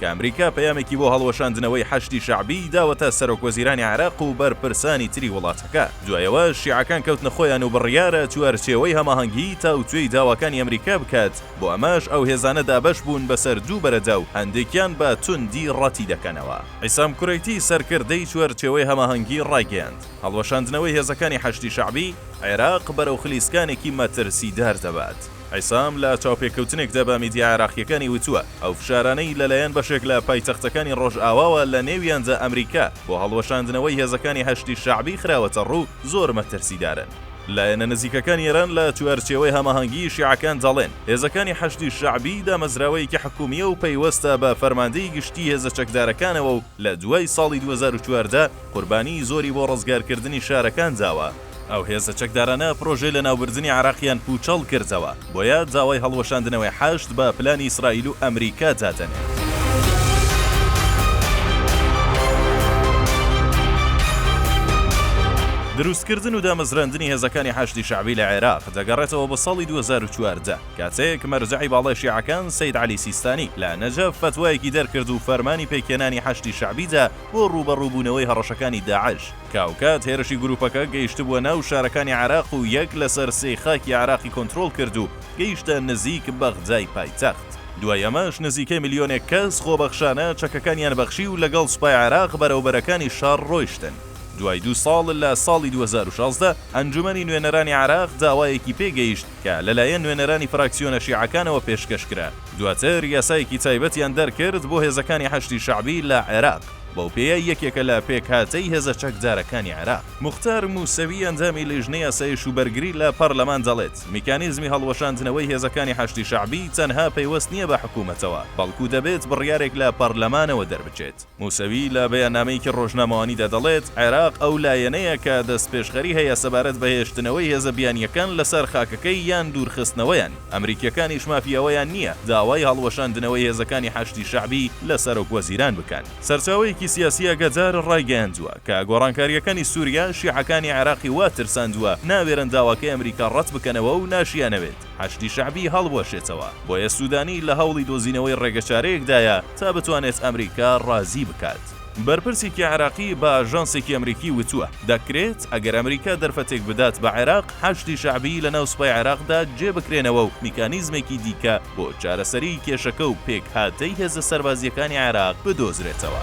کە ئەمریکا پەیامێکی بۆ هەڵوەشاندنەوەی حەشدی شەعبی داوەتە سەرۆکوەزیرانی عێراق و بەرپرسانی تری وڵاتەکە، دوای ئەوە شیعەکان کەوتنە خۆیان و بڕیارە چوارچێوەی هەماهەنگی تاوتوێی داواکانی ئەمریکا بکات، بۆ ئەمەش ئەو هێزانە دابەش بوون بەسەر دوو بەرەدا و هەندێکیان بە توندی ڕەتی دەکەنەوە. عیسام کورەیتی سەرکردەی چوارچێوەی هەماهەنگی ڕایگەیاند، هەڵوەشاندنەوەی هێزەکانی حەشدی شەعبی عێراق بەرەو خلیسکانێکی مەترسیدار دەبات، عیسام لە چاوپێکەوتنێکدا بە میدیا عێراقییەکانی وتووە، ئەو فشارانەی لەلایەن بەشێک لە پایتەختەکانی ڕۆژئاواوە لە نێویاندا ئەمریکا بۆ هەڵوەشاندنەوەی هێزەکانی حەشدی شەعبی خراوەتەڕوو زۆر مەترسیدارن. لایەنە نزیکەکانی ئێران لە چوارچێوەی هەماهەنگیی شیعەکان دەڵێن، هێزەکانی حەشدی شەعبی دامەزراوەیەکی حکوومییە و پەیوەستە بە فەرماندەی گشتیی هێزە چەکدارەکانەوە و لە دوای ساڵی دوو هەزار و چواردە قوربانیی زۆری بۆ ڕزگارکردنی شارەکان داوە. ئەو هێزە چەکدارانە پرۆژەی لەناوبردنی عێراقیان پووچەڵ کردەوە، بۆیە داوای هەڵوەشاندنەوەی حەشد بە پلانی ئیسرائیل و ئەمریکا دادەنێن. دروستکردن و دامەزراندنی هێزەکانی حەشدی شەعبی لە عێراق دەگەڕێتەوە بۆ ساڵی دوو هەزار و چواردە، کاتێک مەرجەعی باڵای شیعەکان سەید عەلی سیستانی لە نەجەف فەتوایەکی دەرکرد و فەرمانی پێکهێنانی حەشدی شەعبی دا بۆ ڕووبەڕووبوونەوەی هەڕەشەکانی داعش. کاوکات هێرشی گروپەکە گەیشتبووە ناو شارەکانی عێراق و یەک لەسەر سێی خاکی عێراقی کۆنترۆڵ کرد و گەیشتە نزیک بەغدای پایتەخت، دوای ئەمەش نزیکەی ملیۆنێک کەس خۆبەخشانە چەکەکانیان بەخشی و لەگەڵ سوپای عێراق بەرەو بەرەکانی شەڕ رۆیشتن. دوای دوو ساڵ لە ساڵی دوو هەزار و شازدە ئەنجومەنی نوێنەرانی عێراق داوایەکی پێ گەیشت کە لەلایەن نوێنەرانی فراکسیۆنە شیعەکانەوە پێشکەش کرا، دواتر یاسایەکی تایبەتیان دەرکرد بۆ هێزەکانی حەشدی شەعبی لە عێراق. بەوپێیە یەکێکە لە پێکهاتەی هێزە چەکدارەکانی عێراق. موختار موسەوی ئەندامی لیژنەی ئاسایش و بەرگری لە پەرلەمان دەڵێت، میکانیزمی هەڵوەشاندنەوەی هێزەکانی حەشدی شەعبی تەنها پەیوەست نییە بە حکومەتەوە، بەڵکو دەبێت بڕیارێک لە پەرلەمانەوە دەربچێت. موسەوی لە بەیاننامەیەکی رۆژنامەوانیدا دەڵێت، عێراق ئەو لایەنەیە کە دەستپێشخەری هەیە سەبارەت بە هێشتنەوەی هێزە بیانییەکان لەسەر خاکەکەی یان دوورخستنەوەیان. ئەمریکیەکانیش مافی ئەوەیان نییە داوای هەڵوەشاندنەوەی هێزەکانی حەشدی شەعبی لە سەرۆک وەزیران بکەن. سەرچاوەیەکی سیاسی ئاگادار ڕایگەیاندووە، کە گۆڕانکارییەکانی سوریا شیعەکانی عێراقی وا ترساندووە ناوێرن داواکەی ئەمریکا ڕەت بکەنەوە و ناشیانەوێت حەشدی شەعبی هەڵوەشێتەوە، بۆیە سودانی لە هەوڵی دۆزینەوەی ڕێگەچارەیەکدایە تا بتوانێت ئەمریکا ڕازی بکات. بەرپرسێکی عێراقی بە ئاژانسێکی ئەمریکی وتووە، دەکرێت ئەگەر ئەمریکا دەرفەتێک بدات بە عێراق، حەشدی شەعبیی لەناو سوپای عێراقدا جێ بکرێنەوە و میکانیزمێکی دیکە بۆ چارەسەریی کێشەکە و پێکهاتەی هێزە سەربازییەکانی عێراق بدۆزرێتەوە.